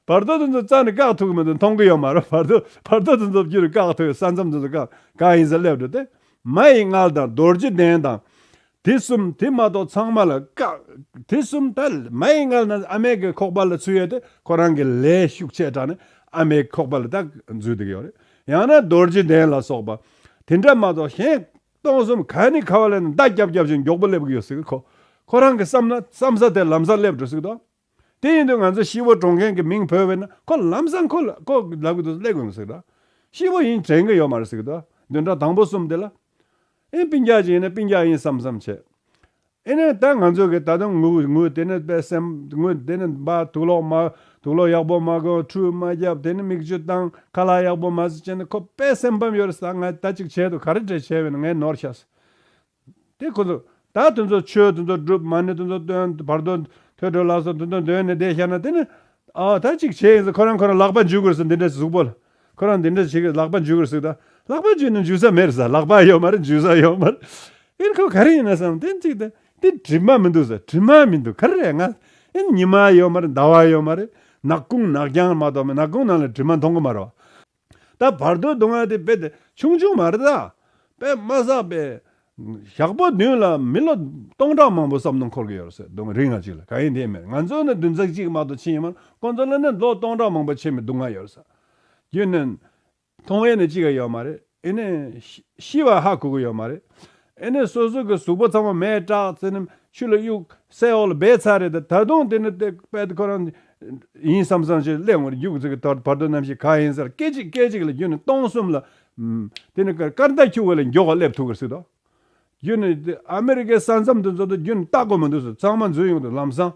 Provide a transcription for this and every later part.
བར་དོ་དེ་ཚོ་རྩ་ནས་བཀག་ཐུབ་ཀྱི་མི་འདུག་མཐོང་གི་ཡོད་མ་རེད། བར་བར་དོ་དེ་ཚོ་བརྒྱུད་རིགས་བཀག་ཐུབ་ཡོད་ས་མཚམས་དེ་ཚོ་བཀག་གང་ཡིན་ཟེར་སླེབས་འགྲོ་དེ། མ་ཡི་མངལ་དང་རྡོ་རྗེ་གདན་དང། དེ་གསུམ་དེ་མ་གཏོགས་ཚང་མ་ལ་བཀག། དེ་གསུམ་ད། མ་ཡི་མངལ་ན་ཨ་མའི་གི་ཁོག་པ་ལ་ཚུད་ཡོད་དེ་ཁོ་རང་གི་ལས་ཤུགས་ཆེ་དྲགས་ནས་ཨ་མའི་ཁོག་པ་ལ་ད་འཛུལ་འདུག་ཡོད་རེད། ཡང་ན་རྡོ་རྗེ་གདན་ལ་སོགས་པ། དེ་འདྲ་མ་གཏོགས་གཞན། སྟོང་གསུམ་ག་ནི་ག་བ་ལས་ན་མདའ་རྒྱབ་རྒྱབ་བཞིན་མགྱོགས་པོ་སླེབས་ཀྱི་ཡོད་སྲིད་ཁོ། ཁོ་རང་གི་བསམ་ན་བསམ་ས་དེ་ལམ་སར་སླེབས་འགྲོ་སྲིད་དོ། དེ་ཡིན་དུས་ང་ཚོ་ཤི་བོ་བགྲོང་མཁན་གྱི་མིང་བོས་བས་ན་ཁོ་ལམ་སང་ཁོ་ལ་ཁོ་ལབ་གི་འདུག་སླེ་གོས་མི་སྲིད་དོ། ཤི་བོ་ཡིན་དྲན་གི་ཡོད་མ་རེད་སྲིད་དོ། བདུན་ཕྲག་དང་པོ་གསུམ་དེ་ལ། ཨེ་པིན་རྒྱ་ཅིག་ཡིན་ན་པིན་རྒྱ་ཡིན་བསམ་བསམ་བྱས། ཨེ་ན་ད་ང་ཚོ་གི་ད་དུང་ངུ་ངུ་དེ་ནི་པད་སེམས་ངུ་དེ་ནི་འབའ་དུག་ལོག་མ་དུག་ལོག་ཡག་པོ་མ་གོ་འཕྲུལ་མ་རྒྱབ་དེ་ནི་མིག་ཆུ་བཏང་ཁ་ལག་ཡག་པོ་མ་བཟོ་བྱས་ན་ཁོ་པད་སེམས་ཕམ་ཡོད་རེད་ས་ང་ད་ཅིག་བྱས་འདུག་ག་རེ་བྲེལ་བྱས་བས་ན་ངས་ནོར་ཤ་ཟ། དེ་ཁོ་ཚོ། ད་དེ་ཚོ་ཆོས་དེ་ཚོ་སྒྲུབ་མ་ནི་དེ་ཚོ་སྟོན་བར་དོ། ཐོས་གྲོལ་ལགས་སོ་དེ་ཚོ་འདོན་ནས་བསྡད་ཤར་ན་དེ་ནི། ཨའོ་ད་ཅིག་བྱས་ཡིན་ཟེར་ཁོ་རང་ཁོ་རང་ལག་པ་འཇུས་དགོས་ཟེར་འདི་འདྲ་གཟུགས་པོ་ལ། ཁོ་རང་འདི་འདྲ་བྱེད་ཀྱི་ལག་པ་འཇུས་དགོས་ཟིག་ད། ལག་པ་འཇུས་ནས་འཇུས་ས་མེད་རེད་ཟེར་ལག་པ་ཡོད་མ་རེད་འཇུས་ས་ཡོད་མ་རེད། ཨིན་ཁོ་ག་རེ་ཡིན་ན་བསམ་དེ་ཅིག་ད། འདི་གྲིབ་མ་མི་འདུག་ཟེར་གྲིབ་མ་མི་འདུག་ག་རེ་རེད་ང། ཨིན་ཉི་མ་ཡོད་མ་རེད་ཟླ་བ་ཡོད་མ་རེད། ནག་ཀུང་ནག་རྐྱང་མ་གཏོགས་མེད་ནག་ཀུང་ནང་ལ་གྲིབ་མ་མཐོང་གི་མ་རེད་བ། ད་བར་དོའི་སྡུག་བསྔལ་དེ་དཔེ་དེ་ཆུང་ཆུང་མ་རེད་ད། དཔེ་མ་བསགས་པའི་ཞག་པོ་བདུན་ལ་མི་ལོ་སྟོང་ཕྲག་མང་པོ་བསམ་དུ་འཁོར་གྱི་ཡོད་རེད་སྡུག་བསྔལ་རིགས་ལྔ་གཅིག་ལ་ག་ཡིན་དེ་མེད་ང་ཚོ་ནི་བདུན་ཚིགས་གཅིག་མ་ཏོག་ཕྱི་ཡིན་མོད་ཁོང་ཚོ་ལ་ནི་ལོ་སྟོང་ཕྲག་མང་པོ་ཕྱེད་མའི་སྡུག་བསྔལ་ཡོད་རེད། རྒྱུ་ནི། མཐོང་བས་ནི་གཅིག་ཡོད་མ་རེད་ཨེ་ནས། ཤི་བ་ཧ་གོ་གི་ཡོད་མ་རེད། ཨེ་ནས་སོ་སོ་གི་གཟུགས་པོ་ཚང་མ་མེད་བཀྲག་ཙེ་ནི་ཆུ་ལ་གཡུག་སའི་འོག་ལ་སྦས་ཚར་རེད་ད་ད་དུང་དེ་ནི་དེ་པད་ཁོ་རང་ཡིན་བསམ་བསམ་བྱས་སླེ་ངོར་རྒྱུག་ཙེ་གི་དོར་བར་དོ་རྣམ་ཤེས་ག་ཡིན་ཟེར་སྐད་ཅིག་སྐད་ཅིག་ལ་རྒྱུ་ནི་སྟོང་གསུམ་ལ་དེ་ནི་སྐར་མདའ་འཁྱུག་བ་ལ་མགྱོགས་སླེབས་ཐུབ་ཀི་སྲིད་དོ་རྒྱུ་ནི་ཨ་མི་རི་ཀའི་ས་མཚམས་དུ་འཛུལ་དུ་རྒྱུ་ནི་ལྟ་དགོས་མི་འདུག་ཟེར་ཚང་མ་འཛུལ་ཡོང་དུ་ལམ་སང་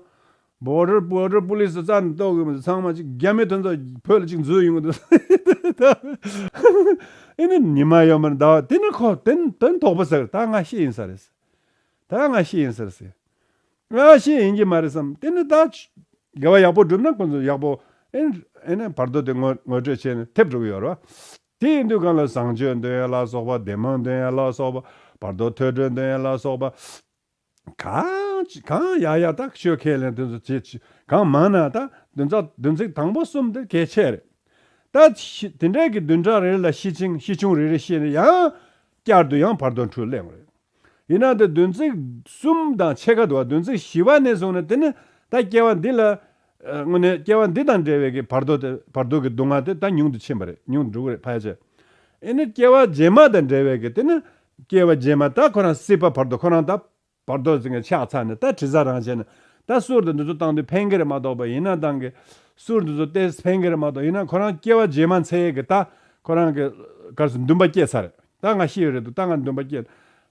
བོད་རིགས་པོ་རིགས་པོ་ལིས་རྩ་ནས་རྟོགས་དགོས་མི་འདུག་ཚང་མ་ཅིག་རྒྱ་མི་མཐུན་ཚོགས་བོད་ལ་ཅིག་འཛུལ་ཡོང་གི་འདུག་ཨེ་ནི་ཉི་མ་ཡོད་མེད་ཟླ་བ་དེ་ནི་ཁོ་དོན་དོགས་པོ་ཟེར་ད་ང་ཤེས་ཡིན་ས་རེད་ཟེར་ད་ང་ཤེས་ཡིན་ཟེར་ཟེར་ང་ཤེས་ཡིན་གྱི་མ་རེད་བསམ་དེ་ནི་ད་དགེ་བ་ཡག་པོ་བསྒྲུབ་ན་ཁོ་ཚོ་ཡག་པོ་ཨེ་ནི་བར་དོ་དེ་ངོ་ངོ་སྤྲོད་བྱས་ནས་ཐེབས་འགྲོ་གི་ཡོད་རེད་བ་དེ་ཡིན་དུས་གང་ལ་བཟང་སྤྱོད་འདོན་ཡ་ལ་སོགས་པ་བདེ་སྨོན་འདོན་ཡ་ལ་སོགས་པ་བར་དོ་ཐོས་གྲོལ་འདོན་ཡ་ལ་སོགས་པ་གང་ཅི་གང་ཡག་ཡག་དག་ཤོད་ཁས་ལེན་དོན་ཚོ་ཆེ་ཆེ་གང་མང་ན་དག་དོན་ཚ་དོན་ཚིག་དང་པོ་གསུམ་དེ་གལ་ཆེ་རེད་ད། དེ་འདྲ་གི་བདུན་ཕྲག་རེ་ལ་ཤི་ཆིང་ཤི་ཆུང་རེ་རེ་བཤད་ན་ཡང། བསྐྱར་དུ་ཡང་བར་དོ་འཁྲུལ་གླེང་རེད། ཡིན་ན་དེ་དོན་ཚིག་གསུམ་དང་ཕྱེད་ཀ་དུ་བ་དོན་ཚིག་བཞི་བ་ནས་བཟུང་ན་དེ་ནི་ད་སྐྱེ་བ་འདི་ལ། དངོས་ནས་སྐྱེ་བ་འདི་དང་འབྲེལ་བའི་གི་བར་དོ་དེ་བར་དོ་གི་སྡུག་བསྔལ་དེ་ད་ཉུང་དུ་ཕྱིན་པ་རེད་ཉུང་དུ་འགྲོ་གི་རེད་ཕལ་ཆེར། ཨེ་ནི་སྐྱེ་བ་རྗེས་མ་དང་འབྲེལ་བའི་གི་དེ་ནི་སྐྱེ་བ་རྗེས་མ་ད་ཁོ་རང་སྲིད་པ་བར་དོ་ཁོ་རང་ད་བར་དོ་ཟེར་མཁན་ཆགས་ཚར་ནས་ད་དྲི་ཟ་རང་བྱས་ནས་ད་གསུར་དེ་འདི་ཚོ་བཏང་དུས་ཕན་ཁེར་མ་གཏོགས་པ་ཡིན་ན་ཏང་གི་གསུར་འདི་ཚོ་སྟེ་ཕན་ཁེར་མ་གཏོགས་ཡིན་ན་ཁོ་རང་སྐྱེ་བ་རྗེས་མ་འཚལ་གི་ད་ཁོ་རང་གི་གར་སུ་འདུན་པ་སྐྱེས་ཚར་ད་ང་ཤི་ཡོད་རེད་འདུག་ད་ང་འདུན་པ་སྐྱེས་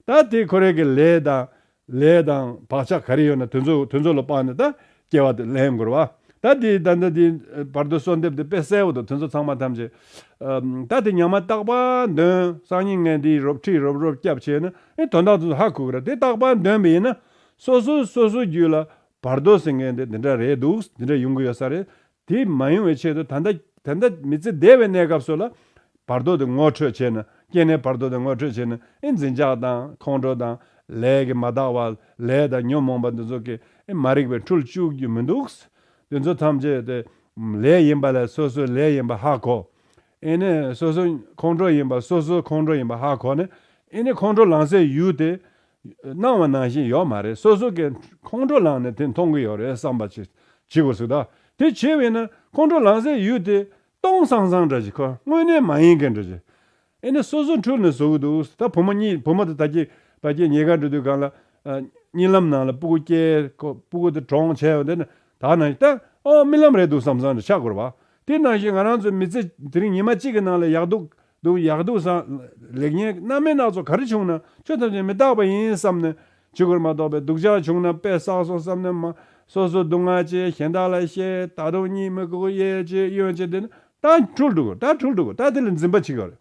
ད་དེ་ཁོ་རེ་གི་ལས་དང་ལས་དང་བག་ཆགས་ག་རེ་ཡོད་ན་དོན་ཚོད་ལ་དཔག་ནས་ད་སྐྱེ་བ་དེ་ལན་བསྐུར་བ། ད་དེ་ད་ལྟ་དེའི་བར་དོ་གསོལ་འདེབས་དེ་དཔེ་གསལ་བོ་དང་དོན་ཚོད་ཚང་མ་ཐམས་ཅད། ད་དེ་ཉམས་མ་བརྟགས་པ་འདོན་སང་ཉིན་ངན་དེའི་རོབ་ཁྲིད་རོབ་རོབ་སྐྱབས་བྱས་ན་ཨེ་དོན་དག་དོན་ཚོད་ཧ་གོ་གི་ར་དེ་བརྟགས་པ་འདོན་པ་ཡིན་ན་སོ་སོའི་སོ་སོའི་རྒྱུད་ལ་བར་དོ་ཟེར་མཁན་དེ་འདི་འདྲ་རེད་འདུག་འདི་འདྲ་ཡོང་གི་ཡོད་ས་རེད་དེ་མ་ཡོང་བའི་ཆེད་དུ་ད་ལྟ་མི་ཚེ་འདས་པའི་གནས་སྐབས་སུ་ལ་བར་དོ་དེ་ངོ་འཕྲོད་བྱས་ན་སྐྱེ་གནས་བར་དོ་དེ་ངོ་འཕྲོད་བྱས་ན་ཨེ་འཛིན་ཆགས་དང་ཁོང་ཁྲོ་དང་ལས་ཀྱི་མ་དག་བ་ལས་དང་ཉོན་མོངས་པ་འདི་ཚོ་གིས་ཨེ་མ་རིག་པའི་འཁྲུལ་བཅུག་རྒྱུ་མི་འདུག་གསུ་དེ་ཚོ་ཐམས་ཅད་དེ་ལས་ཡིན་པ་ལས་སོ་སོའི་ལས་ཡིན་པ་ཧ་གོ་ཨེ་ནས་སོ་སོའི་ཁོང་ཁྲོ་ཡིན་པ་སོ་སོའི་ཁོང་ཁྲོ་ཡིན་པ་ཧ་གོ་ནས་ཨེ་ནས་ཁོང་ཁྲོ་ལངས་སའི་ཡུལ་དེ་སྣང་བ་ནང་བཞིན་ཡོད་མ་རེད་སོ་སོ་གས་ཁོང་ཁྲོ་ལངས་ནས་དེ་མཐོང་གི་ཡོད་རེད་བསམ་པ་བྱེད་དགོས་ཟིག་དཱ་དེ་བྱེད་འི་ན་ཁོང་ཁྲོ་ལངས་སའི་ཡུལ་དེ་སྟོང་སང་སང་འདྲ་གི་དངོས་གནས་མ་ཡིན་གི་འདྲ་གི་འི་ན་སོ་སོ་འཁྲུལ་ནས་ཟོ་གི་འདུག་ད་བུ་མོ་གཉིས་བུ་མོ་དང་ད་ཀྱི་བ་ཀྱི་ཉེ་དགའ་འགྲོ་དུས་གང་ལ་རྙི་ལམ་ནང་ལ་སྤུ་གུ་སྐྱེས་སྤུ་གུ་དེ་གྲོངས་བྱས་ཡོད་དེ་ན་ད་ནང་བཞིན་ཏཱ་ཨོ་རྨི་ལམ་རེད་འདུག་བསམ་སང་འདྲ་ཆགས་དགོས་རེད་བ་དེ་ནང་བཞིན་ང་རང་ཚོའི་མི་ཚེ་དེ་རིང་ཉི་མ་གཅིག་གི་ནང་ལ་ཡག་སྡུག་འདུག་ཡག་འདུག་བཟང། ལེགས་ཉེས་སྣ་མའི་སྣ་ཚོགས་ག་རེ་བྱུང་ན་ཆོས་ཐམས་ཅད་མི་རྟག་པ་ཡིན་བསམ་ནས། ཇི་སྐོར་མ་རྟོགས་པའི་སྡུག་ཅག་བྱུང་ན་དཔེ་བསགས་སོང་བསམ་ནས། མ་སོ་སོའི་སྡུག་བསྔལ་ཅེས་གཞན་དག་ལ་བཤད། ད་དུང་གཉིད་མི་ཁུག་ཡེ་ཅེས་གཡོན་ཅིག་འདི་ན་ད་འཁྲུལ་འདུག་ད་འཁྲུལ་འདུག་ད་དེ་ལ་འཛིན་པ་ཅི་ག་རེད།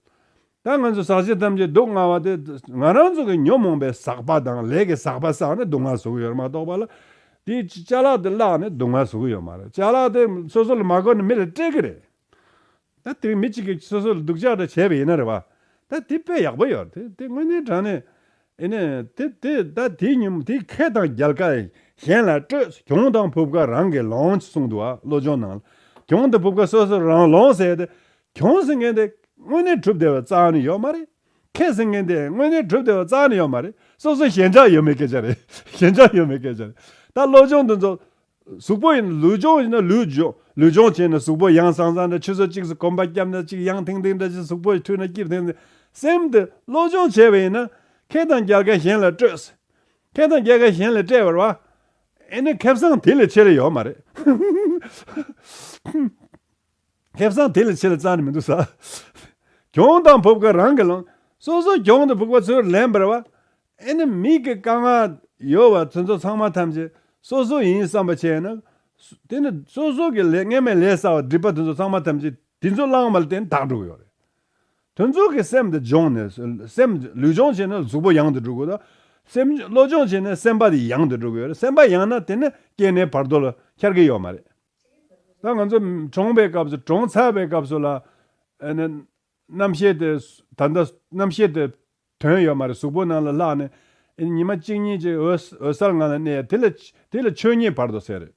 ད་ང་ཚོས་ཟག་བྱེད་ཐམས་ཅད་སྡུག་བསྔལ་བ་དེ། ང་རང་ཚོ་གི་ཉོན་མོངས་པའི་ཟག་པ་དང་ལས་ཀྱི་ཟག་པ་བསགས་ནས་སྡུག་བསྔལ་བཟོ་གི་ཡོད་རེད་མ་རྟོགས་པ་ལ། དེའི་བྱ་གླག་དེ་བརླགས་ནས་སྡུག་བསྔལ་བཟོ་གི་ཡོད་མ་རེད་བྱ་གླག་དེ་སོ་སོ་ལ་མ་བསྐོར་ན་མི་ལ་སྤྲད་ཀྱི་རེད། ད་དེ་རིང་མི་གཅིག་གིས་སོ་སོ་ལ་སྡུག་ཅག་འདྲ་བྱས་པ་ཡིན་ན་རེད་བ། ད་དེ་དཔེ་ཡག་པོ་ཡོད་རེད་དེ་དངོས་གནས་དྲང་ནས་ཡིན་ན་དེ་དེ་ད་དེའི་ཉིན་མོ་དེ་ཁེ་དང་རྒྱལ་ཁ་གཞན་ལ་སྤྲོད་ས་གྱོང་དང་བུབ་ཁ་རང་གིས་ལོངས་ཅེས་གསུངས་འདུག་བློ་སྦྱོང་ནང་ལ་གྱོང་དང་བུབ་ཁ་སོ་སོ་རང་ལོངས་ཟེར་ཏེ་གྱོང་ཟེར་མཁན་དེ་དངོས་གནས་གྲུབ་བདེ་བའི་རྩ་བ་ནས་ཡོད་མ་རེད། ཁེ་ཟེར་མཁན་དེ་དངོས་གནས་གྲུབ་བདེ་བའི་རྩ་བ་ནས་ཡོད་མ་རེད་སོ་སོ་ཞེན་ཆགས་ཡོད་མེད་སྐད་ཆ་རེད་ཞེན་ཆགས་ཡོད་མེད་སྐད་ཆ་རེད་ད་བློ་སྦྱོང་འདི་ཚོ་གཟུགས་པོ་ཡིན་ན་ལུས་སྦྱོང་བྱས་ན་ལུས་འབྱོངས། ལུས་སྦྱོང་བྱས་ན་གཟུགས་པོ་ཡང་སང་སང་འདྲ་ཆུ་སོར་གཅིག་སུ་གོམ་པ་བརྒྱབ་ན་གཅིག་ཡང་ཐིང་ཐིང་འདྲ་ཅི་གཟུགས་པོ་འཁྲུལ་ན་སྐྱིབས་ཐིང་ཐིང། སེམས་དེ་བློ་སྦྱོང་བྱས་པ་ཡིན་ན། མཁས་དང་རྒྱལ་ཁ་གཞན་ལ་སྤྲོད། མཁས་དང་རྒྱལ་ཁ་གཞན་ལས་སྤྲད་པར་བ། ཨེ་ནི་ཁེབས་སངས་དེ་ལས་ཆེ་ལ་ཡོད་མ་རེད། ཁེབས་སངས་དེ་ལས་ཆེ་ལ་རྩ་ནས་མི་འདུག་ས། གྱོང་དང་བུབ་ཁ་རང་གིས་ལངས། སོ་སོ་གྱོང་དང་བུག་པ་ཚུར་ལེན་པར་བ། ཨེ་ནི་མིག་གི་དཀར་ནག་ཡོད་བ་དེ་ཚོ་ཚང་མ་ཐམས་ཅད་སོ་སོ་ཡིན་བསམ་པ་བྱས་ན། དེ་ནི་སོ་སོ་གི་ལས་ངན་མེད་ལས་ས་བ་སྒྲིབ་པ་དེ་ཚོ་ཚང་མ་ཐམས་ཅད་དེ་ཚོ་བླངས་པ་ལ་བརྟེན་དག་འགྲོ་གི་ཡོད་རེད། དེ་ཚོ་གི་སེམས་དེ་སྦྱོང་ནས་སེམས་ལུས་སྦྱོང་བྱས་ན་གཟུགས་པོ་ཡང་དུ་འགྲོ་གི་ཡོད་དོ། སེམས་བློ་སྦྱོང་བྱས་ནས་སེམས་པ་དེ་ཡང་དུ་འགྲོ་གི་ཡོད་རེད་སེམས་པ་ཡང་ན་དེ་ནི་སྐྱེ་ནས་བར་དོ་ལ་འཁྱར་གི་ཡོད་མ་རེད། ད་ང་ཚོ་གྲོངས་པའི་སྐབས་སུ་གྲོངས་ཚར་བའི་སྐབས་སུ་ལ། ཨེ་ནི་རྣམ་ཤེས་དེ་ད་ལྟ་རྣམ་ཤེས་དེ་དོན་ཡོད་མ་རེད་གཟུགས་པོ་ནང་ལ་ལྷག་ནས། ཉི་མ་གཅིག་གཉིས་ཀྱི་འོད་གསལ་ངང་ལ་གནས་ཡ་དེ་ལ་དེ་ལ་ཆོས་ཉིད་བར་དོ་ཟེར།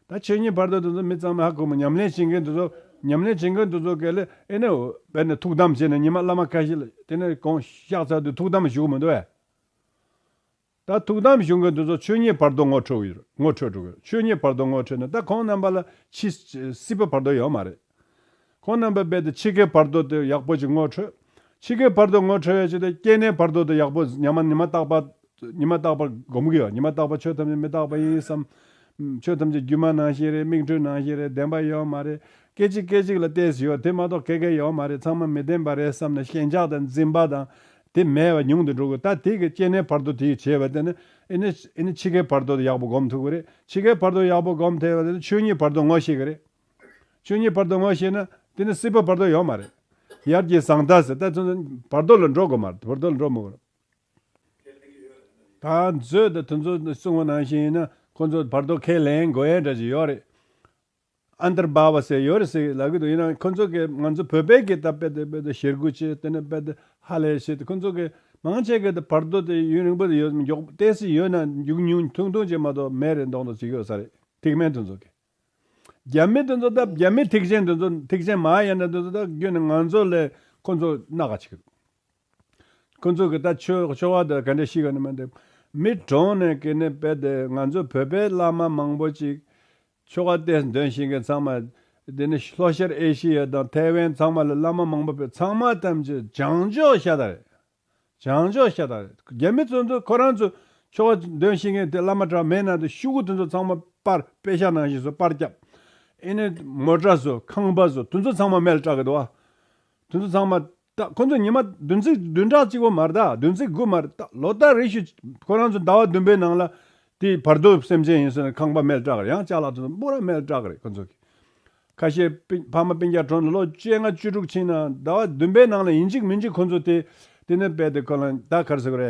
ད་ཆོས་ཉིད་བར་དོ་དེ་ཚོ་མི་ཚང་མ་ཧ་གོ་མོ་ཉམས་ལེན་བྱེད་མཁན་དེ་ཚོ་ཉམས་ལེན་བྱེད་མཁན་དེ་ཚོ་གལ་ཨེ་ནས་བས་ནས་ཐུགས་དམ་བྱེད་ནས་ཉི་མ་བླ་མ་ཁ་ཤེ་ལ་དེ་ནས་གང་ཤག་ཚར་དུས་ཐུགས་དམ་བཞུགས་མི་འདུག་བས། ད་ཐུགས་དམ་གཞུང་གི་འདི་ཚོ་ཆོས་ཉིད་བར་དོ་ངོ་འཕྲོད་ཡོད་རེད་ངོ་འཕྲོད་འགྲོ་གི་རེད་ཆོས་ཉིད་བར་དོ་ངོ་འཕྲོད་ན་ད་ཁོང་རྣམ་པ་ལ་ཕྱི་སྲིད་པའི་བར་དོ་ཡོད་མ་རེད། ཁོང་རྣམ་པའི་རྦད་དེ་ཕྱི་ཁའི་བར་དོ་དེ་ཡག་པོ་ཅིག་ངོ་འཕྲོད། ཕྱི་ཁའི་བར་དོ་ངོ་འཕྲོད་ཡ་ཆེད་དེ་སྐྱེ་གནས་བར་དོ་དེ་ཡག་པོ་ཉམས་མ་ཉི་མ་རྟག་པ་ཉི་མ་རྟག་པ་སྒོམ་གི་ཡོད་ཉི་མ་རྟག་པ་ཆོས་ཐམས་ཅད་མི་རྟག་པ་ཡིན་བསམ། ཆོས་ཐམས་ཅད་སྒྱུ་མ་ནང་བཞིན་རེད་མིག་འཕྲུལ་ནང་བཞིན་རེད་བདེན་པ་ཡོད་མ་རེད་སྐད་ཅིག་སྐད་ཅིག་ལ་བལྟས་སུ་ཡོད་དེ་མ་གཏོགས་ག་གེ་ཡོད་མ་རེད་ཚང་མ་མི་བདེན་པ་རེད་བསམ་ནས་ཞེན་ཆགས་དང་འཛིན་པ་དང་དེ་མེད་པ་ཉུང་དུ་འགྲོ་དགོས་ད་དེ་གི་སྐྱེ་གནས་བར་དོ་དེ་བྱེད་པ་དེ་ནི་ཨི་ནི་འཆི་ཁའི་བར་དོ་དེ་ཡག་པོ་སྒོམ་ཐུབ་གི་རེད་འཆི་ཁའི་བར་དོ་ཡག་པོ་སྒོམ་ཐེ་བ་དེ་ནི་ཆོས་ཉིད་བར་དོ་ངོ་ཤེས་གི་རེད་ཆོས་ཉིད་བར་དོ་ངོ་ཤེས་ན་དེ་ནི་སྲིད་པ་བར་དོ་ཡོད་མ་རེད་ཡར་གྱི་བཟང་ད་ཟེར་ད་ཚོད་འདི་བར་དོ་ལ་འགྲོ་དགོས་མ་རེད་བར་དོ་ལ་འགྲོ་མི་དགོས། ད་ཚོད་ད་དེ་ཚོ་གསུང་བ་ནང་བཞིན་ཡིན་ན་ཁོ་ཚོ་བར་དོ་ཁས་ལེན་དགོས་ཡས་འདྲ་ཞིག་ཡོད་རེད་ཨ་མདར་སྦ་བ་ཟེར་ཡོད་རེད་ཟེར་ལབ་གི་འདུག་ཡིན་ནའང་ཁོ་ཚོ་གིས་ང་ཚོ་བོད་པའི་གིས་ད་དཔེ་དེ་དཔེ་དེ་ཞེ་དགུ་བྱས་དེ་ནས་དཔེ་དེ་ཧ་ལས་བྱས་ཏེ་ཁོ་ཚོ་གིས་མང་ཆེ་གེ་དེ་བར་དོ་དེ་ཡུན་རིང་པོ་དེ་ཡོད་མི་འགྱོགས་བལྟས་སི་ཡོད་ན་འགྱུག་ཉུང་ཐུང་ཐུང་ཅིག་མ་གཏོགས་མེད་རེད་མདོག་མདོག་ཅིག་ཡོད་ས་རེད་ཐིག་དམན་དེ་ཚོ་གིས། རྒྱ་མི་དེ་ཚོ་ད་རྒྱ་མི་ཐིག་ཆེན་དེ་ཚོ་ཐིག་ཆེན་མ་ཡིན་ན་དེ་ཚོ་ད་རྒྱུན་ནས་ང་ཚོ་ལས་ཁོ་ཚོ་སྣ་ག་ཆིག་ཁོ་ཚོ་གིས་ད་ཆོས་ཆོ་བ་དེ་ག་འདྲ་ཞིག་ཡོད་ན་མི་འདུག་མི་གྲོངས་ནས་གིས་ནས་དཔེ་དེ་ང་ཚོ་བོད་པའི་བླ་མ་མང་པོ་ཅིག་ཆོ་ག་གཏེར་འདོན་བྱེད་མཁན་ཚང་མ། དེ་ནི་ལྷོ་ཤར་ཨེ་ཤི་ཡ་དང་ཐའེ་ཝན་ཚང་མ་ལ་བླ་མ་མང་པོ་བོད་ཚང་མ་ཐམས་ཅད་བྱང་ཕྱོགས་ཤ་སྟག་རེད། བྱང་ཕྱོགས་ཤ་སྟག་རེད། རྒྱ་མི་ཚོ་ཚོ་ཁོ་རང་ཚོ་ཆོ་ག་འདོན་བྱེད་མཁན་དེ་བླ་མ་གྲ་མའི་ནང་དུ་ཤུ་གུ་དེ་ཚོ་ཚང་མ་པར་དཔེ་ཤ་ནང་བཞིན་བཟོ་པར་སྐྱབས། ཨེ་ནས་མོ་གྲ་བཟོ་ཁང་པ་བཟོ་དེ་ཚོ་ཚང་མ་མལ་སྐྲག་གི་འདུག་ཨ། དེ་ཚོ་ཚང་མ་རྟགས་ཁོ་ཚོ་ཉི་མ་བདུན་ཚིགས་བདུན་ཕྲག་གཅིག་བོ་མར་རྟགས་བདུན་ཚིགས་དགུ་མར་རྟགས་ལོ་སྟག་རེ་ཞིག་ཁོ་རང་ཚོ་ཟླ་བ་བདུན་པའི་ནང་ལ་དེའི་བར་དོ་སེམས་ཅན་ཡིན་ཟེར་ན་ཁང་པ་མལ་བཀྲག་རེ་ཡང་ལྕགས་ལ་ཐོགས་སྤོ་ར་མལ་བཀྲག་རེ་ཁོ་ཚོ་གི། ཁ་ཤས་ཕ་མ་སྤུན་རྒྱ་གྲོངས་ནས་ལོ་བཅོ་ལྔ་བཅུ་དྲུག་ཕྱིན་ནའང་ཟླ་བ་བདུན་པའི་ནང་ལ་ཡིན་གཅིག་མིན་གཅིག་ཁོ་ཚོ་དེ་དེ་ནས་བལ་ཏེ་ཁོ་རང་ད་གར་ཟེར་གོ་རེ་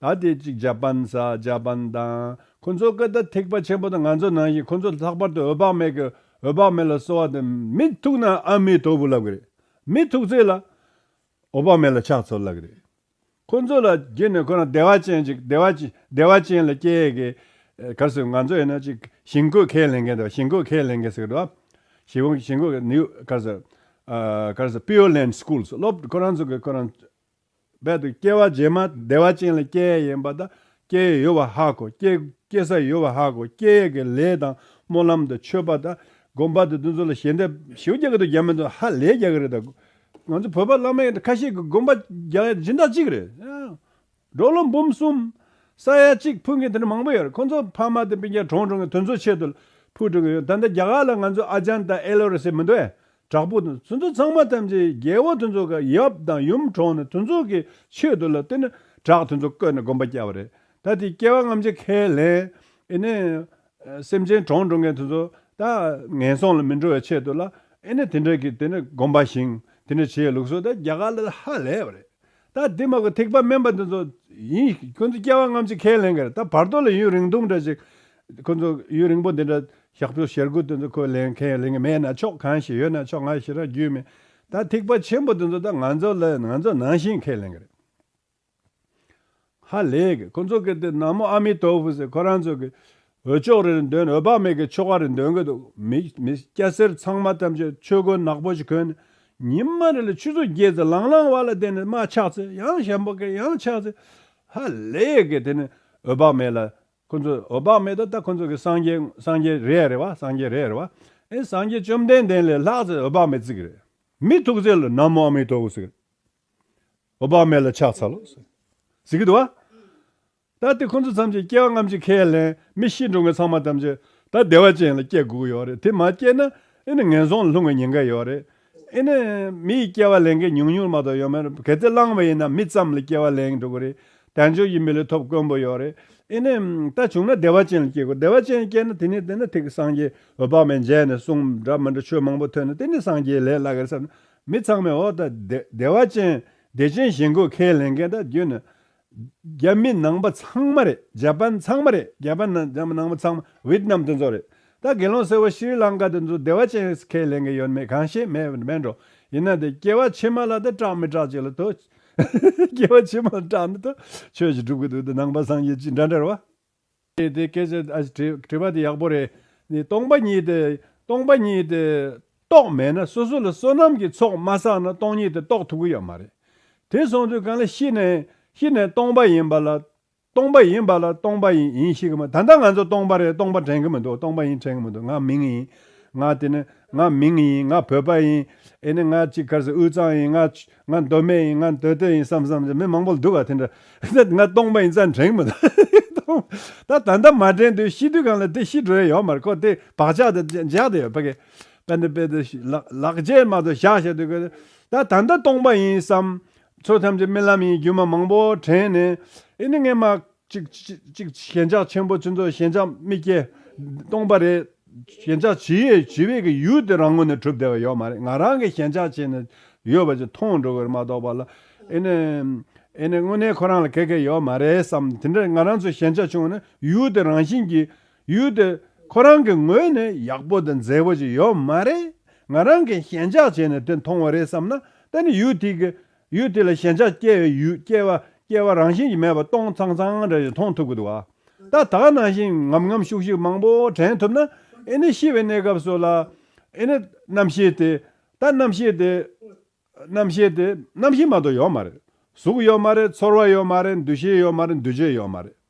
ད་ལྟའི་ཅིག་ཇཱ་པན་ས་ཇཱ་པན་དང་ཁོ་ཚོ་སྐད་བརྡ་ཐེག་པ་ཆེན་པོ་དང་ང་ཚོ་ནང་བཞིན་ཁོ་ཚོ་ལྷག་པར་དུ་འོད་དཔག་མེད་ཀྱི་འོད་དཔག་མེད་ལ་གསོལ་བ་དང་མི་ཐུག་ན་ཨ་མའི་ཐོར་བུ་ལབ་གི་རེད་མི་ཐུག་ཚེ་ལ་འོད་དཔག་མེད་ལ་ཕྱག་འཚོལ་ལབ་གི་རེད་ཁོ་ཚོ་ལ་བརྒྱུད་ནས་ཁོ་རང་བདེ་བ་ཅན་ཅིག་བདེ་བ་བདེ་བ་ཅན་ལ་སྐྱེ་ཡི་གི་གལ་སྲིད་ང་ཚོ་ཡིན་ན་ཅིག་ཞིང་བཀོད་ཁས་ལེན་མཁན་དང་ཞིང་བཀོད་ཁས་ལེན་མཁན་ཟེར་གི་འདུག་ཞིང་བཀོད་ཞིང་བཀོད་ནིའུ་གལ་སྲིད་གལ་སྲིད Pure Land Schools སློབ་ཁོ་རང་ཚོ་གི་ཁོ་རང། རྦད་དུ་སྐྱེ་བ་རྗེས་མ་བདེ་བ་ཅན་ལ་སྐྱེ་ཡས་ཡིན་པ་དང་སྐྱེ་ཡས་ཡོད་པ་ཧ་གོ། སྐྱེ་ས་ཡོད་པ་ཧ་གོ། སྐྱེ་ཡས་ཀྱི་ལས་དང་སྨོན་ལམ་དང་མཆོད་པ་དང་སྒོམ་པ་དང་དུས་ཚོད་ལ་ཞལ་འདེབས། ཞེ་བོ་རྒྱག་གི་འདུག་རྒྱག་མི་འདུག་ཧ་ལས་རྒྱག་གི་རེད་ད། ང་ཚོ་བོད་པ་བླ་མ་ཡིན་ཁ་ཤས་ཀྱི་སྒོམ་པ་རྒྱག་ཡ་སྦྱིན་བདག་གཅིག་རེད། འབྲོག་ལོ་འབུམ་གསུམ། ས་ཡ་གཅིག་འཕུད་མཁན་དེ་འདྲ་མང་པོ་ཡོད་རེད་ཁོང་ཚོ་ཕ་མ་དང་སྤུན་ཆེད་གྲོང་གྲོང་གི་དོན་ཚོ་ཆེད་དུ་ཕུལ་འགྲོ་གི་ཡོད་ད་ལྟ་རྒྱ་གར་ལ་ང་ཚོ་ཨ་ཅང་དང་ཨེ་ལོ་རེ་ཟེར་མི་འདུག་ཨེ་དྲག་པོ་དང་ཚོན་མཚོ་ཚང་མ་ཐམས་ཅད་རྒྱལ་བོ་དོན་མཚོ་ག་ཡབ་དང་ཡུམ་གྲོངས་ནས་དོན་མཚོ་གི་ཆོས་དུ་ལ་བསྟེན་ན་དྲག་དོན་མཚོ་བཀོད་ནས་དགོན་པ་བསྐྱལ་བ་རེད་ད་དེ་བསྐྱལ་བ་རྔམ་བྱེད་ཁས་ལེན་ཨེ་ནས། སེམས་ཅན་གྲོངས་འགྲོ་མཁན་དོན་མཚོ་ད་ངན་སོང་ལ་མི་འགྲོ་བའི་ཆེད་དུ་ལ་ཨེ་ནས་དེ་འདྲ་གི་དེ་ནས་དགོན་པ་བཞེངས་དེ་འདྲ་བྱས་ལུགས་སོགས་ད་རྒྱ་གར་ལ་ཧ་ལས་པ་རེད་ད་འདི་མ་གོ་ཐིག་པ་དམན་པ་འདི་ཚོ། ཡིན། ཁྱོད་ཚོ་སྐྱེ་བ་རྔམ་ཅིག་ཁས་ལེན་གི་རེད་ད་བར་དོ་ལ་ཡུན་རིང་ཐུང་འདྲ་ཅིག། ཁོ་ཚོ་ཡུན་རིང་པོ་འདི་འདྲ་ཞག་བཅུ་ཞེར་དགུ་དེ་ཚོ་ཁོས་ལེན་ཁས་ལེན་གི་མེད་ན་ཆོག་གང་ཞིག་ཡོད་ན་ཆོག་ང་ཞེ་དྲག་རྒྱུས་མེད། ད་ཐིག་པ་ཆེན་པོ་འདི་ཚོ་ད་ང་ཚོ་ལ་ང་ཚོ་ནང་བཞིན་ཁས་ལེན་གི་རེད། ཧ་ལས་གི་ཁོ་ཚོ་གི་དེ་ནག་མོ་ཨ་མི་ཏོ་ཧྥུ་ཟེར་ཁོ་རང་ཚོ་གི། འོད་ཅོག་རེར་འདོན་འོད་དཔག་མེད་ཀྱི་ཆོ་ག་རེ་འདོན་གྱི་འདུག་མི་སྐྱ་སེར་ཚང་མ་ཐམས་ཅད་ཆོས་གོས་ནག་པོ་ཞིག་གོན་ནས་ཉི་མ་རེ་ལ་ཆུ་ཚོད་བརྒྱད་ཙམ་ལང་ལང་བ་ལ་བལྟས་ནས་མ་ཆགས་ཚེ་ཡང་ཞབས་འབག་གིས་ཡང་ཆགས་ཚེ་ཧ་ལས་གིས་དེ་ནས་འོད་དཔག་མེད་ལ་ཁོ་ཚོས་འོད་དཔག་མེད་ད་ལྟ་ཁོ་ཚོ་གིས་སངས་རྒྱས་སངས་རྒྱས་རེད་རེད་བ་སངས་རྒྱས་རེད་རེད་བ་ཨེ་སངས་རྒྱས་བཅོམ་ལྡན་འདས་ལས་ལྷག་ཚེ་འོད་དཔག་མེད་ཙིག་རེད་མི་ཐུག་ཚེ་ལ་ན་མོ་ཨ་མི་ཏོ་ཨོ་ཟིག་རེད་འོད་དཔག་མེད་ལ་ཆགས་ཚར་ལོ་ཟིག་གི་འདུག་བ། ད་ལྟ་ཁོ་ཚོ་ཚང་གཅིག་སྐྱེ་བ་ལྔ་བཅུ་ཁས་ལེན་མི་ཤི་འགྲོ་མཁན་ཚང་མ་ཐམས་ཅད་ད་བདེ་བ་ཅན་ལ་སྐྱེ་དགོས་ཡོད་རེད་དེ་མ་སྐྱེས་ན་ཨེ་ནི་ངན་སོང་ལ་ལྷུང་བའི་ཉེན་ཁ་ཡོད་རེད་ཨེ་ནི། མི་ཡི་སྐྱེ་བ་ལེན་མཁན་ཉུང་ཉུང་མ་གཏོགས་ཡོད་མེད་རེད་གལ་ཏེ་བླངས་བ་ཡིན་ན་མི་ཙམ་ལ་སྐྱེ་བ་ལེན་འགྲོ་གི་རེད་དལ་འབྱོར་གྱི་མི་ལ་ཐོབ་དཀོན་པོ་ཡོད་རེད་ཨེ་ནི། ད་བྱུང་ན་བདེ་བ་ཅན་ལ་སྐྱེ་དགོས་བདེ་བ་ཅན་སྐྱེས་ན་དེ་ནས་དེ་ན་ཐིག་གི་སངས་རྒྱས་འོད་དཔག་མེད་མཇལ་ནས་གསུང་འདྲ་མི་འདྲ་ཆོས་མང་པོ་ཐོས་ནས་དེ་ནས་སངས་རྒྱས་ལས་སླ་གིར་བསམ་ན་མི་ཚང་མས་འོ་ད་བདེ་བ་ཅན་བདེ་ཆེན་ཞིང་དགོས་ཁས་ལེན་མཁན་ད་རྒྱུན་ནས་རྒྱ་མི་ནང་པ་ཚང་མ་རེད་རྒྱ་པ་ཚང་མ་རེད་རྒྱ་པ་ནང་པ་ཚང་མ་བིད་ནམ་དེ་ཚོ་རེད་ད་དགེ་སློང་སེར་བོ་ཤྲི་ལང་ཀ་དེ་ཚོ་བདེ་བ་ཅན་རེད་ཁས་ལེན་གི་ཡོད་མེད་གང་ཤེས་མེད་མེད་འགྲོ་ཡིན་ན་དེ་སྐྱེ་བ་ཕྱི་མ་ལ་དེ་སྐྲག་མི་སྐྲག་ཅིག་ལ་ཐོས། སྐྱེ་བ་ཕྱི་མ་ལ་སྐྲག་མི་ཐོས་ཆོས་ཀྱི་སྒྲུབ་གི་འདུག་དེ་ནང་པ་སངས་རྒྱས་ཅི་འདྲ་འདྲ་བ། ཀྱེ་དེ་སྐད་ཅེས་དྲིས་པ་དེ་ཡག་པོ་རེད། སྟོང་པ་ཉིད་དེ། སྟོང་པ་ཉིད་དེ། རྟོགས་མེད་ན་སོ་སོ་ལ་བསོད་ནམས་ཀྱི་ཚོགས་མ་བསགས་ན་སྟོང་ཉིད་དེ་རྟོགས་ཐུབ་ཀྱི་ཡོད་མ་རེད། དེ་སོང་དུས་གང་ལ་ཤི་ནས་ཤི་ནས་སྟོང་པ་ཡིན་པ་ལ། སྟོང་པ་ཡིན་པ་ལ་སྟོང་པ་ཡིན་ཡིན་ཤི་གི་མ་ད་ལྟ་ང་ཚོ་སྟོང་པ་རེད་སྟོང་པ་དྲན་གི་མི་འདུག་སྟོང་པ་ཡིན་དྲན་གི་མི་འདུག་ང་མིང་ཡིན། ང་དེ་ནི་ང་མིང་ཡིན་ང་བོད་པ་ཡིན། ཨེ་ནི་ང་གཅིག་གར་སའི་དབུས་གཙང་ཡིན་ང། ང་མདོ་སྨད་ཡིན་ང་མདོ་སྟོད་ཡིན་བསམ་བསམ་ཚེ་མི་མང་པོ་འདུག་ག་དེ་འདྲ། ང་སྟོང་པ་ཡིན་ཙང་འགྲེང་མི་ཐུབ། ད་ད་ལྟ་མ་འགྲེང་དུས་ཤི་དུས་གང་ལ་དེ་ཤི་འགྲོ་ཡས་ཡོག་མ་རེད་ཁོ་དེ་བག་ཆགས་དེ་འཇགས་དེ་ཡོད་པ་ཀེ། པན་དེ་པེ་དེ་ལག་འཇལ་མ་ཏོ་བཞག་བཞག་དུས་ཀེ། ད་ད་ལྟ་སྟོང་པ་ཡིན་བསམ། ཚོ་ཐམས་ཅད་རྨི་ལམ་ཡིན་རྒྱུ་མ་མང་པོ་དྲན་ནས་ཨེ་ནི་ངས་མ། གཅིག་ཞེན་ཆགས་ཆེན་པོ་ཚུན་ཚོགས་ཞེན་ཆགས་རྨི་སྐྱེ། སྟོང་པ་རེད། ཞེན་ཆགས་ཇི་ཡོད་ཇི་བས་ཀྱི་ཡུལ་དེ་རང་ངོ་ནས་གྲུབ་བསྡད་པ་ཡོད་མ་རེད་ང་རང་གི་ཞེན་ཆགས་ཆེ་ནས་ཡོད་པ་ཅིག་མཐོང་འགྲོ་གི་རེད་མ་གཏོགས་པ་ལ། ཨེ་ནས། ཨེ་ནས་དངོས་གནས་ཁོ་རང་ལ་གེགས་གེགས་ཡོད་མ་རེད་བསམ་དེ་འདྲ་ང་རང་ཚོ་ཞེན་ཆགས་ཆུང་བ་ནི་ཡུལ་དེ་རང་བཞིན་གྱིས་ཡུལ་དེ་ཁོ་རང་གི་ངོས་ནས་ཡག་པོ་དང་མཛེས་པོ་ཅིག་ཡོད་མ་རེད་ང་རང་གིས་ཞེན་ཆགས་བྱས་ནས་དེ་མཐོང་བ་རེད་བསམ་ན་ད་ནི་ཡུལ་དེ་གི་ཡུལ་དེ་ལ་ཞེན་ཆགས་སྐྱེ་བའི་ཡུལ་སྐྱེ་བ་སྐྱེ་བ་རང་བཞིན་གྱིས་མེད་པ་སྟོང་ཚང་ཚང་རེ་རེ་མཐོང་ཐུབ་གི་འདུག་ཨ། ད་དག་སྣང་བཞིན་ངམ་ངམ་ཤུག་ཤུག་མང་པོ་དྲན་ཐུབ་ན་ཨེ་ནི་ཤི་བའི་གནས་སྐབས་སུ་ལ། ཨེ་ནི། རྣམ་ཤེས་དེ། ད་རྣམ་ཤེས་དེ། རྣམ་ཤེས་དེ། རྣམ་ཤེས་མ་གཏོགས་ཡོད་མ་རེད། གཟུགས་ཡོད་མ་རེད་ཚོར་བ་ཡོད་མ་རེད་འདུ་ཤེས་ཡོད་མ་རེད་འདུ་བྱེད་ཡོད་མ་རེད།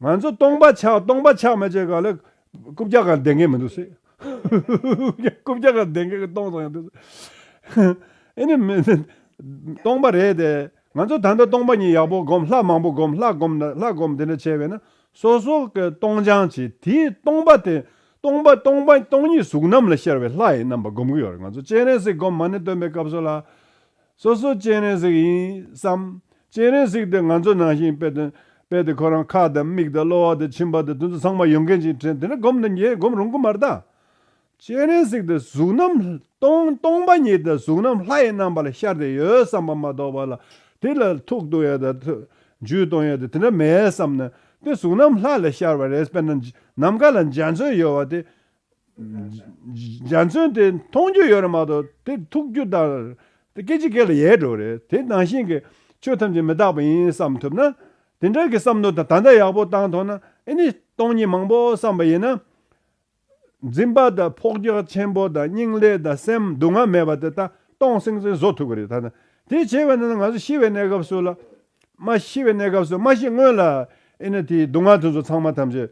ང་ཚོ་སྟོང་པ་ཆགས་སྟོང་པ་ཆགས་མི་བྱེད་ག་ལ། རྐུབ་བཀྱག་གང་བསྡད་མཁན་མི་འདུག་སེ། རྐུབ་བཀྱག་གང་བསྡད་མཁན་གྱི་སྟོང་བཟང་འདུག་སེ། ཨེ་ནི། སྟོང་པ་རེད་དེ། ང་ཚོ་ད་ལྟ་སྟོང་པ་གཉིས་ཡག་པོ་སྒོམ་ལྷ་མང་པོ་སྒོམ་ལྷ་སྒོམ་ན་ལྷ་སྒོམ་དེ་འདྲ་བྱས་པས་ན་སོ་སོ་གི་སྟོང་སྦྱང་བྱས་དེས་སྟོང་པ་དེ། སྟོང་པ་སྟོང་པ་སྟོང་ཉིད་གཟུགས་རྣམས་ལ་ཤར་བའི་ལྷ་ཡི་རྣམ་པ་སྒོམ་གི་ཡོད་རེད་ང་ཚོ་སྤྱན་རས་གཟིགས་སྒོམ་མ་ནི་སྟོན་པའི་སྐབས་སུ་ལ། སོ་སོ་སྤྱན་རས་གཟིགས་ཡིན་བསམ། སྤྱན་རས་གཟིགས་དེ་ང་ཚོ་ནང་བཞིན་དཔེ་དང། དཔེ་དེ་ཁོ་རང་ཁ་དང་མིག་དང་གློ་བ་དང་མཆིན་པ་དང་དུ་ཚོད་ཚང་མ་ཡོད་མཁན་ཞིག་དྲན་དེ་ནས་སྒོམ་དང་ཉལ་སྒོམ་རུང་གི་མ་རྟགས། སྤྱན་རས་གཟིགས་དེ་གཟུགས་རྣམ། སྟོང་པ་ཉིད་དང་གཟུགས་རྣམ་ལྷ་ཡི་རྣམ་པ་ལ་ཤར་དེ་ཡོད་བསམ་པ་མ་གཏོགས་པ་ལ་དེ་ལ་ཐུགས་གཏོང་ཡ་དང། རྒྱུད་གཏོང་ཡ་དང་དེ་འདྲ་མེད་བསམ་ན་དེ་གཟུགས་རྣམ་ལྷ་ལ་ཤར་བ་རེད་དཔེར་ན་ནམ་མཁའ་ལ་འཇའ་ཚོན་ཡོད་བ་དེ་འཇའ་ཚོན་དེ་མཐོང་རྒྱུ་ཡོད་རེད་མ་གཏོགས་དེ་ཐུག་རྒྱུ་དང། དེ་སྐད་ཅིག་སྐད་ལ་ཡལ་འགྲོ་རེད་དེ་ནང་བཞིན་གྱི་ཆོས་ཐམས་ཅད་མི་རྟག་པ་ཡིན་བསམ་ཐུབ་ན། དེ་འདྲ་གྱི་བསམ་མནོ་དང་ད་ལྟ་ཡག་པོ་བཏང་ཐོག་ན་ཨེ་ནི་སྟོང་ཉིད་མང་པོ་བསམ་པ་ཡིན་ན། འཛིན་པ་དང་ཕོག་རྒྱག་ཆེན་པོ་དང་སྙིང་ལས་དང་སེམས་སྡུག་བསྔལ་མེད་པ་དེ་དག་སྟོང་སེང་སེང་བཟོ་ཐུབ་ཀྱི་རེད་ད། དེ་བྱེད་པ་ན་ང་ཚོ་ཤི་བའི་གནས་སྐབས་སུ་ལ། མ་ཤི་བའི་གནས་སྐབས་སུ་མ་ཤི་སྔོན་ལ་ཨེ་ནི་དེའི་སྡུག་བསྔལ་དེ་ཚོ་ཚང་མ་ཐམས་ཅད།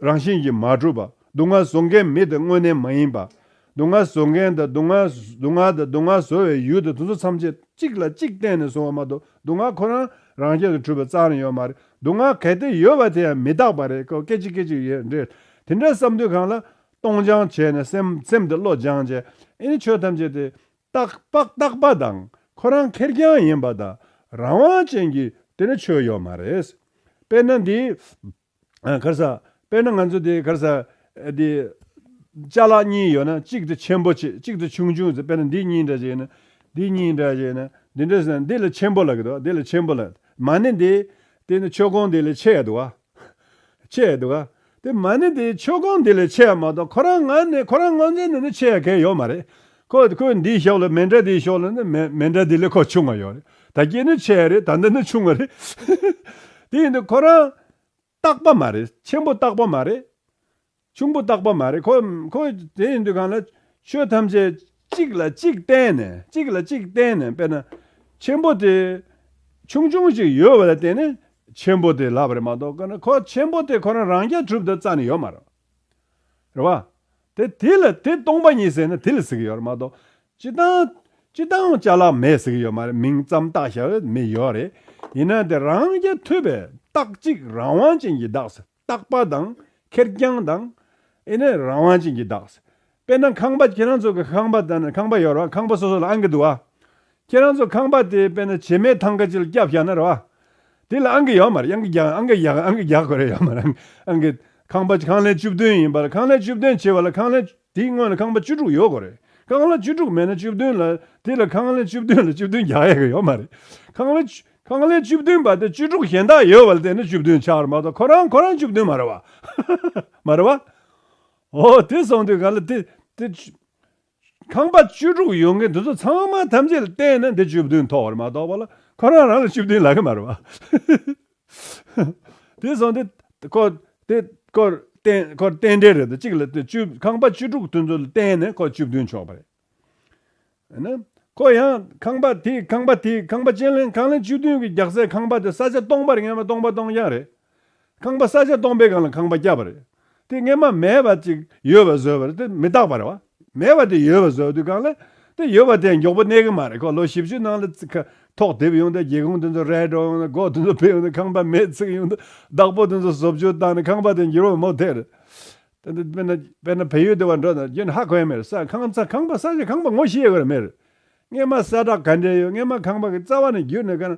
རང་བཞིན་གྱིས་མ་གྲུབ་པ། སྡུག་བསྔལ་བཟོ་མཁན་མི་དེ་དངོས་གནས་མ་ཡིན་པ། སྡུག་བསྔལ་བཟོ་མཁན་དང་སྡུག་བསྔལ་སྡུག་བསྔལ་དང་སྡུག་བསྔལ་བཟོ་བའི་ཡུལ་དེ་དུ་ཚོད་མཚམས་ཆད་གཅིག་ལ་གཅིག་བརྟེན་ནས་བཟུང་བ་མ་གཏོགས་སྡུག་བསྔལ་ཁོ་རང་རང་ཆེད་དུ་གྲུབ་པའི་རྩ་ནས་ཡོད་མ་རེད། སྡུག་བསྔལ་གལ་ཏེ་ཡོད་པ་དེ་ཡང་མི་རྟག་པ་རེད་སྐད་ཅིག་སྐད་ཅིག་ཡོད་འདྲེ་དེ་འདྲ་བསམ་དུས་གང་ལ། སྟོང་སྦྱང་བྱས་ནས་སེམས་སེམས་དེ་བློ་སྦྱང་བྱས། ཨེ་ནི་ཆོས་ཐམས་ཅད་དེ། རྟག་པ་རྟག་པ་དང་ཁོ་རང་ཁེར་རྐྱང་ཡིན་པ་དང་རང་དབང་ཅན་གྱི་དེ་འདྲ་ཆོས་ཡོད་མ་རེད། དཔེར་ན་འདི། ཁར་ས། དཔེར་ན་ང་ཚོ་དེ་ཁར་ས། དེ། ལྕགས་ལག་གཉིས་ཡོད་ན་གཅིག་དེ་ཆེན་པོ་ཆེ་གཅིག་དེ་ཆུང་ཆུང་ཟེར་དཔེར་ན་འདི་གཉིས་འདྲ་བྱས་ན། འདི་གཉིས་འདྲ་བྱས་ན། འདི་འདྲ་བྱས་ན་འདི་ལ་ཆེན་པོ་ལགས་འདུག་འདི་ལ་ཆེན་པོ་ལགས། མ་ཎི་འདི། དེ་ནི་མཆོད་ཀོང་འདི་ལས་ཆེ་ཡ་འདུག་ཨ། ཆེ་ཡ་འདུག་ཨ། དེ་མ་ནི་དེ་མཆོད་ཀོང་འདི་ལས་ཆེ་ཡ་མ་གཏོགས་ཁོ་རང་ང་ནི་ཁོ་རང་ངོ་མཚན་ནས་ནི་ཆེ་ཡ་གལ་ཡོད་མ་རེད། ཁོས་ཁོའི་འདིའི་ཤོག་ལ་མེ་འདྲ་དེའི་ཤོག་ལ་ནི་མེ་འདྲ་དེ་ལས་ཁོ་ཆུང་བ་ཡོད་རེད། ད་སྐྱེས་ནི་ཆེ་རེད་ད་འདི་ནི་ཆུང་བ་རེད། དེ་ཡིན་དུས་ཁོ་རང། རྟག་པ་མ་རེད་ཆེན་པོ་རྟག་པ་མ་རེད། ཆུང་པོ་རྟག་པ་མ་རེད་ཁོ། དེ་ཡིན་དུས་གང་ལ། ཆོས་ཐམས་ཅད་གཅིག་ལ་གཅིག་བརྟེན་ནས་གཅིག་ལ་གཅིག་བརྟེན་ནས་དཔེར་ན། ཆེན་པོ་དེ། ཆུང་ཆུང་ཞིག་ཡོད་བ་ལ་བརྟེན་ནས་ཆེན་པོ་དེ་ལབ་རེད་མ་གཏོགས་ཁོ་ཆེན་པོ་དེ་ཁོ་རང་རང་རྐྱ་གྲུབ་ཏུ་རྩ་ནས་ཡོད་མ་རེད། རེད་བ། དེ་དེ་ལ་དེ་སྟོང་པ་ཉིད་ཟེར་ན་དེ་ལ་ཟེར་གྱི་ཡོད་རེད་མ་གཏོགས། སྤྱི་བཏང། སྤྱི་བཏང་བྱ་གླག་མེད་ཟེར་གྱི་ཡོད་མ་རེད་མིང་ཙམ་བཏགས་བྱ་བའི་མི་ཡོད་རེད། ཡིན་ན་དེ་རང་རྒྱལ་མཐུད་པའི་རྟགས་གཅིག་རང་དབང་ཅན་གྱི་རྟགས་སེ་རྟག་པ་དང་ཁེར་རྐྱང་དང། ཨེ་ནས་རང་དབང་ཅན་གྱི་རྟགས་སེ། དཔེར་ན་ཁང་པ་ཁྱེད་རང་ཚོ་གི་ཁང་པ་ད་ནི་ཁང་པ་ཡོད་རེད་བ་ཁང་པ་སོ་སོ་ལ་ཨང་ཀི་འདུག་བ། ཁྱེད་རང་ཚོ་ཁང་པ་དེ་དཔེ་ན་བྱེ་མའི་ཐང་ཀ་ཅིག་ལ་སྐྱབས་བཞག་ན་རོགས་ཨ། དེ་ལ་ཨང་ཀི་ཡོད་མ་རེད་ཨང་ཀི་རྒྱག་ཨང་ཀི་རྒྱག་ཨང་ཀི་རྒྱག་དགོས་རེད་ཡོད་མ་རེད་ཨང་ཀི། ཁང་པ་ཁང་ལན་བཅུ་བདུན་ཡིན་པ་ལ་ཁང་ལན་བཅུ་བདུན་བྱེ་བ་ལ་ཁང་ལན། དེའི་སྔོན་ལ་ཁང་པ་བཅུ་དྲུག་ཡོད་དགོས་རེད་ཁང་ལན་བཅུ་དྲུག་མེད་ན་བཅུ་བདུན་ལ་དེ་ལ་ཁང་ལན་བཅུ་བདུན་ལ་བཅུ་བདུན་རྒྱག་ཡས་ཀྱི་ཡོད་མ་རེད་ཁང་ལན། ཁང་ལན་བཅུ་བདུན་པ་དེ་བཅུ་དྲུག་གཞན་དག་ཡོད་པ་ལ་བལྟས་ན་བཅུ་བདུན་ཆགས་རེད་མ་གཏོགས་ཁོ་རང་ཁོ་རང་བཅུ་བདུན་མ་རེད་བ། མ་རེད་བ། འོ་དེ་སོང་དུས་ག་ལ་དེ་དེ། ཁང་པ་བཅུ་དྲུག་ཡོང་གི་འདུག་ཚོ་ཚང་མ་ཐམས་ཅད་ལ་བལྟས་ན་འདི་བཅུ་བདུན་ཐོག་བར་མ་གཏོགས་པ་ལ་ཁོ་རང་རང་ལ་བཅུ་བདུན་ལག་གི་མ་རེད་བ། དེ་སོང་དེ་སྐོར་དེ་སྐོར་བསྟན་སྐོར་བསྟན་འགྲེལ་རེད་དོ་གཅིག་ལ་བཅུ་ཁང་པ་བཅུ་དྲུག་ཐོན་ཚོད་ལ་བལྟས་ན་ཁོ་བཅུ་བདུན་ཆོག་པ་རེད། ཨ་ནི་ཁོ་ཡང་ཁང་པ་དེ་ཁང་པ་དེ་ཁང་པ་ཅན་ལ་ཁང་ལན་བཅུ་བདུན་གི་རྒྱག་སའི་ཁང་པ་དེ་ས་ཆ་སྟོང་པར་ངེས་པ་སྟོང་པ་སྟོང་རྐྱང་རེད། ཁང་པ་ས་ཆ་སྟོང་པའི་སྒང་ལ་ཁང་པ་བསྐྱབས་པ་རེད། དེ་སྔས་མ་མེད་པ་ཅིག་ཡོད་པ་བཟོས་པ་རེད་དེ་མི་རྟག་པ་རེད་བ། མེད་པ་དེ་ཡོད་པ་བཟོས་དུས་སྒང་ལ་དེ་ཡོད་པ་དེ་མགྱོགས་པོ་གནས་གི་མ་རེད་ཁོ་ལོ་བཞི་བཅུ་ནང་ལ་ཐོག་དེབ་ཡོང་དུས་སྒེའུ་ཁུང་དེ་ཚོ་རལ་གྲོགས་ཡོང་དུས་སྒོ་དེ་ཚོ་ཕུད་ཡོང་དུས་ཁང་པ་མེད་ཚིག་ཡོང་དུས་བདག་པོ་དེ་ཚོ་བཟོ་བཅོས་བཏང་ནས་ཁང་པ་དེ་འགྱུར་བ་མུ་མཐད་རེད། དཔེར་ན་བལ་ཡུལ་དེ་བ་འགྲོ་དང་རྒྱུན་ཧ་གོའི་མི་རེད་ས་ཁང་ས་ཁང་པ་ས་ཆ་ཁང་པ་ངོ་ཤེས་དགོས་རེད་མི་རེད། སྔས་མ་ས་བྲག་ག་འདྲའི་ཡོད་སྔས་མ་ཁང་པ་གི་རྩ་བ་ནས་བརྒྱུད་ནས་ག་རང་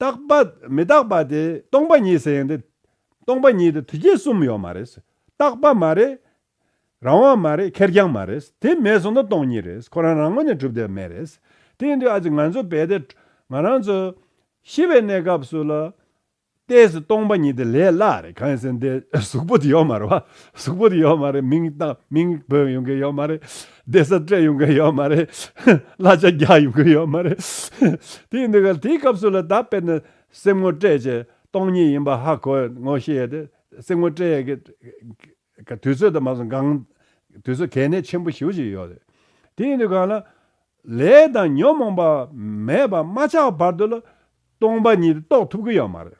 རྟག་པ་མི་རྟག་པ་དེ་སྟོང་པ་ཉིད་ཟེར་ཡང་དེ་སྟོང་པ་ཉིད་དེ་དུས་བརྒྱད་གསུམ་ཡོད་མ་རེད། རྟག་པ་མ་རེད། རང་དབང་མ་རེད་ཁེར་རྐྱང་མ་རེད། དེ་མེད་སོང་ན་སྟོང་ཉིད་རེད། ཁོ་རང་རང་ངོ་ནས་གྲུབ་བསྡད་མེད་རེད། དེ་ཡིན་དུས་ཨ་ཙི་ང་ཚོ་བས་ཏེ་ང་རང་ཚོ་ཤི་བའི་གནས་སྐབས་སུ་ལ་ལྟས་སུ་སྟོང་པ་ཉིད་དེ་ལས་སླ་རེད་གང་ཡིན་ཟེར་ན་དེ་གཟུགས་པོ་དེ་ཡོད་མ་རེད་བ། གཟུགས་པོ་དེ་ཡོད་མ་རེད་མིང་རྟགས་མིང་བོད་ཡོང་གི་ཡོད་མ་རེད། བདེ་གསལ་སྤྲད་ཡོང་གི་ཡོད་མ་རེད། གླ་ཆ་རྒྱག་ཡོང་གི་ཡོད་མ་རེད། དེའི་འདི་གར་དེའི་སྐབས་སུ་ལ་དྭགས་དཔེར་ན་གསེར་དངུལ་སྤྲད་བྱས་སྟོང་ཉིད་ཡིན་པ་ཧ་གོ་ངོ་ཤེས་ཡོད་དེ། གསེར་དངུལ་སྤྲད་ཡས་ཀྱི་དུས་ཚོད་དང་མ་སོང་སྒང་དུས་ཚོད་གལ་གནད་ཆེན་པོ་ཞིག་ཞིག་ཡོད་རེད། དེའི་འདི་གང་ལ། ལས་དང་ཉོན་མོངས་པ་མེད་པ་མ་ཆགས་བར་དུ་ལ་སྟོང་པ་ཉིད་རྟོགས་ཐུབ་ཀྱི་ཡོད་མ་རེད།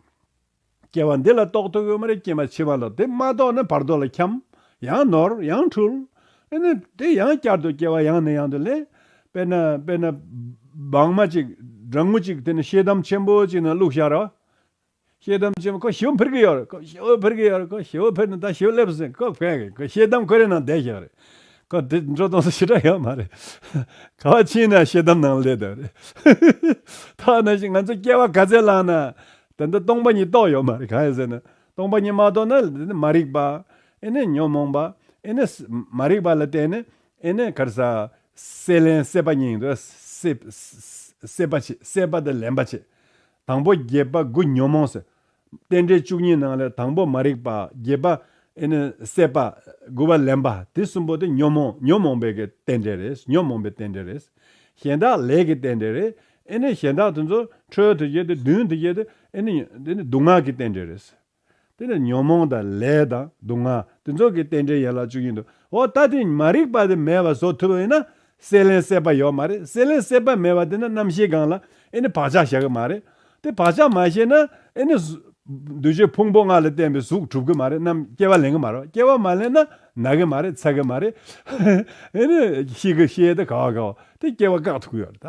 སྐྱེ་བ་འདི་ལ་རྟོགས་ཐུབ་ཡོད་མ་རེད་ཀྱེ་མ་འཆི་བ་ལ་དེ་མ་རྟོགས་ན་བར་དོ་ལ་འཁྱམས། ཡང་ནོར་ཡང་འཁྲུལ། ཨེ་ནི། དེ་ཡང་བསྐྱར་དུ་སྐྱེ་བ་ཡང་ནས་ཡང་དུ་ལེན། དཔེར་ན། དཔེར་ན། སྦང་མ་ཅིག། སྦྲང་མོ་ཅིག་དེ་ནི་ཤེལ་དམ་ཆེན་པོ་ཅིག་ནང་བླུགས་ཤར་རོ། ཤེལ་དམ་ཆེན་པོ་ཁོ་བྱིའུ་འཕུར་གི་ཡོད་རེད། ཁོ་བྱིའུ་འཕུར་གི་ཡོད་རེད། ཁོ་བྱིའུ་འཕུར་ནས་ད་བྱིའུ་སླེབས་ཟིན། ཁོ་བྷེ། ཁོ་ཤེལ་དམ་ཁོ་རའི་ནང་བསྡད་ཤག་རེད། ཁོ་དེ་འགྲོ་གཏོང་ས་ཞེ་དྲག་ཡོད་མ་རེད། ཁ་བ་ཕྱིན་ན་ཤེལ་དམ་ནང་སླེབས་ཐུབ་རེད། ཐ་ན་ཞིག་ང་ཚོས་སྐྱེ་བ་ག་ཚད་བླངས་ན། དེ་འདི་སྟོང་པ་ཉིད་རྟོགས་ཡོད་མ་རེད་གང་ཡིན་ཟེར་ན་སྟོང་པ་ཉིད་མ་རྟོགས་ན་དེ་ནི་མ་རིག་པ་ཨེ་ནས་ཉོན་མོངས་པ་ཨེ་ནས་མ་རིག་པ་ལ་བརྟེན་ནས་ཨེ་ནས་གར་ས་སྲེད་ལེན་སྲེད་པ་གཉིས་འདུ་སྲེད་པ་བྱེད་སྲེད་པ་དང་ལེན་པ་བྱེད་དང་པོ་བརྒྱད་པ་དགུ་ཉོན་མོངས་སེལ་རྟེན་འབྲེལ་བཅུ་གཉིས་ནང་ལས་དང་པོ་མ་རིག་པ་བརྒྱད་པ་ཨེ་ནས་སྲེད་པ་དགུ་བ་ལེན་པ་དེ་གསུམ་པོ་དེ་ཉོན་མོངས་ཉོན་མོངས་པའི་རྟེན་འབྲེལ་རེད་ཉོན་མོངས་པའི་རྟེན་འབྲེལ་རེད་གཞན་དག་ལས་ཀྱི་རྟེན་འབྲེལ་རེད་ཨེ་ནི་གཞན་དག་དེ་ཚོ་འཕྲོའི་དོན་བྱེད་དེ་བདུན་དེ་བྱེད་དེ་ཨེ་ནི་དེ་ནི་སྡུག་བསྔལ་གྱི་རྟེན་འབྲེལ་རེད། དེ་ནི་ཉོན་མོངས་དང་ལས་དང་སྡུག་བསྔལ་དེ་ཚོ་གི་རྟེན་འབྲེལ་ཡན་ལག་བཅུ་ཡིན་འདུག་འོ་ད་དེ་མ་རིག་པ་དེ་མེད་པ་བཟོ་ཐུབ་ཡོད་ན་སྲེད་ལེན་སྲེད་པ་ཡོད་མ་རེད་སྲེད་ལེན་སྲེད་པ་མེད་པ་དེ་ན་རྣམ་ཤེས་སྒང་ལ་ཨེ་ནི་བག་ཆགས་བཞག་གི་མ་རེད་དེ་བག་ཆགས་མ་བཞེས་ན་ཨེ་ནི། འདུ་བྱེད་ཕུང་པོ་ལྔ་ལ་བརྟེན་པའི་གཟུགས་གྲུབ་གི་མ་རེད་ནམ་སྐྱེ་བ་ལེན་གི་མ་རེད་སྐྱེ་བ་མ་ལེན་ན་ན་གི་མ་རེད་འཚལ་གི་མ་རེད། ཨེ་ནི་ཤི་གི་ཤི་ཡས་དེ་ག་བ་ག་བ་དེ་སྐྱེ་བ་བཀག་ཐུབ་ཀྱི་ཡོད་རེད་ད།